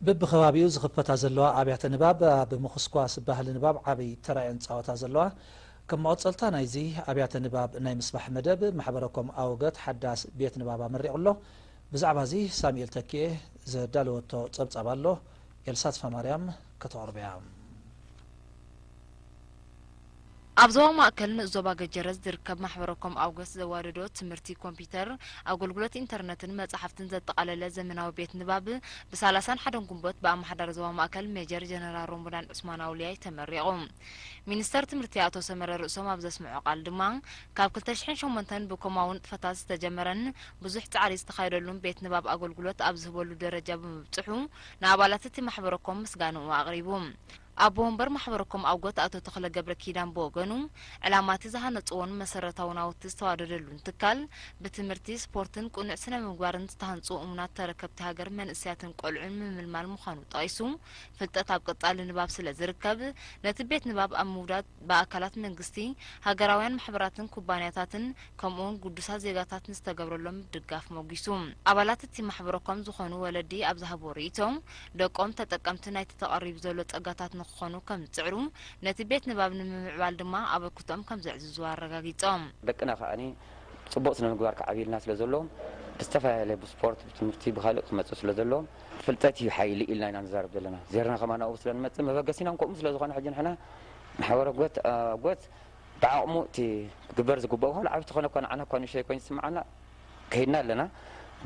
በብከባቢኡ ዝኽፈታ ዘለዋ ኣብያተ ንባብ ኣብ ምኹስኳስ ባህሊ ንባብ ዓቢ ተራ እየን ዝጻወታ ዘለዋ። ከም መቐጸልታ ናይዚ ኣብያተ ንባብ ናይ ምስፋሕ መደብ፣ ማሕበረ ኮም ኣወገት ሓዳስ ቤት ንባብ ኣመሪቑ ኣሎ። ብዛዕባዚ ሳሙኤል ተኪኤ ዘዳለወቶ ጸብጻብ ኣሎ። ኤልሳ ተስፋማርያም ከተቕርቦ'ያ። ኣብ ዞባ ማእከል ንኡስ ዞባ ገጀረት ዝርከብ ማሕበረኮም ኣውገስ ዘዋደዶ ትምህርቲ ኮምፒዩተር፣ ኣጎልጉሎት ኢንተርነትን መጻሕፍትን ዘጠቓለለ ዘመናዊ ቤት ንባብ ብ ሳላሳን ሓደን ጉንቦት ብኣማሓዳሪ ዞባ ማእከል ሜጀር ጀነራል ሮሞዳን ዑስማን ኣውልያይ ተመሪቑ። ሚኒስተር ትምህርቲ ኣቶ ሰመረ ርእሶም ኣብ ዘስምዖ ቃል ድማ ካብ ክልተ ሽሕን ሸሞንተን ብኮማዊ ንጥፈታት ዝተጀመረን ብዙሕ ጻዕሪ ዝተኻየደሉን ቤት ንባብ ኣጎልጉሎት ኣብ ዝህበሉ ደረጃ ብምብጽሑ ንኣባላት እቲ ማሕበረኮም ምስጋንኡ ኣቕሪቡ። ኣቦ ወንበር ማሕበረ ኮም ኣጎት ኣቶ ተኽለ ገብረኪዳን ብወገኑ፣ ዕላማ'ቲ ዝሃነጽዎን መሰረታዊ ናውቲ ዝተዋደደሉን ትካል፣ ብትምህርቲ፣ ስፖርትን ቅኑዕ ስነ-ምግባርን ዝተሃንጹ እሙናት ተረከብቲ ሃገር መንእሰያትን ቆልዑን ምምልማል ምዃኑ ጠቒሱ፣ ፍልጠት ኣብ ቀጻሊ ንባብ ስለዝርከብ፣ ነቲ ቤት ንባብ ኣብ ምውዳድ ብኣካላት መንግስቲ፣ ሃገራውያን ማሕበራትን ኩባንያታትን፣ ከምኡውን ግዱሳት ዜጋታት ንዝተገብረሎም ምድጋፍ ሞጒሱ። ኣባላት እቲ ማሕበረኮም ዝኾኑ ወለዲ ኣብ ዝሃብዎ ርእይቶ፣ ደቆም ተጠቀምቲ ናይቲ ተቐሪቡ ዘሎ ጸጋታት ንክኾኑ ከም ዝጽዕሩ፣ ነቲ ቤት ንባብ ንምምዕባል ድማ ኣበርክቶኦም ከም ዘዕዝዙ ኣረጋጊጾም። ደቅና ከኣ ጽቡቕ ስነ ምግባር ክዓብዩልና ስለ ዘለዎም፣ ብዝተፈላለየ ብስፖርት፣ ብትምህርቲ፣ ብኻልእ ክመጽኡ ስለ ዘለዎም፣ ፍልጠት እዩ ሓይሊ ኢልና ኢና ንዛረብ ዘለና፣ ዜርና ከማን ኣብኡ ስለ ንመጽእ መበገሲናን ከምኡ ስለ ዝኾነ ሕጂ ንሕና ማሕበረ ጎት ኣጎት ብዓቕሙ እቲ ክግበር ዝግበኦ ዋላ ዓቢ ተኾነ እኳ ንዓና እኳ ንእሽተይ ኮይኑ ዝስምዓና ከይድና ኣለና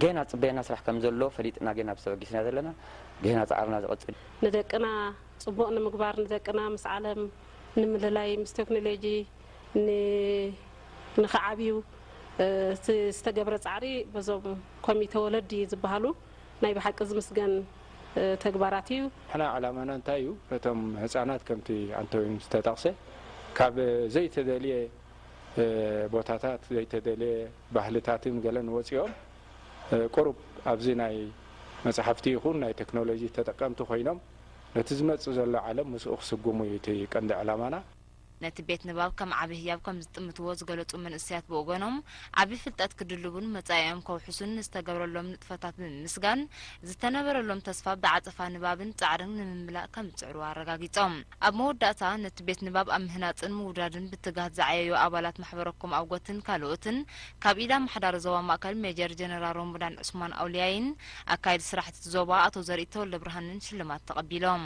ገና ዝጽበየና ስራሕ ከም ዘሎ ፈሊጥና ግን ኣብዚ ተበጊስና ዘለና ገና ጻዕርና ዝቕጽል እዩ። ንደቅና ጽቡቕ ንምግባር ንደቅና ምስ ዓለም ንምልላይ ምስ ቴክኖሎጂ ን ንኽዓብዩ እቲ ዝተገብረ ጻዕሪ በዞም ኮሚተ ወለዲ ዝብሃሉ ናይ ብሓቂ ዝምስገን ተግባራት እዩ። ንሕና ዕላማና እንታይ እዩ ነቶም ህፃናት ከምቲ ኣንተዊን ዝተጠቕሰ ካብ ዘይተደልየ ቦታታት ዘይተደልየ ባህልታትን ገለን ወፂኦም ቁሩብ ኣብዚ ናይ መፅሓፍቲ ይኹን ናይ ቴክኖሎጂ ተጠቀምቲ ኮይኖም ነቲ ዝመፅእ ዘሎ ዓለም ምስኡ ክስጉሙ እዩ እቲ ቀንዲ ዕላማና። ነቲ ቤት ንባብ ከም ዓቢ ህያብ ከም ዝጥምትዎ ዝገለጹ መንእሰያት ብወገኖም፣ ዓቢ ፍልጠት ክድልቡን መጻኢኦም ከውሕሱን ንዝተገብረሎም ንጥፈታት ብምምስጋን፣ ዝተነበረሎም ተስፋ ብዓጸፋ ንባብን ጻዕርን ንምምላእ ከም ዝጽዕሩ ኣረጋጊጾም። ኣብ መወዳእታ፣ ነቲ ቤት ንባብ ኣብ ምህናጽን ምውዳድን ብትግሃት ዝዓየዩ ኣባላት ማሕበረኮም ኣውገትን ካልኦትን፣ ካብ ኢድ ኣማሓዳሪ ዞባ ማእከል ሜጀር ጀነራል ሮሞዳን ዑስማን ኣውልያይን ኣካየዲ ስራሕቲ እቲ ዞባ ኣቶ ዘርኢ ተወልደብርሃንን ሽልማት ተቐቢሎም።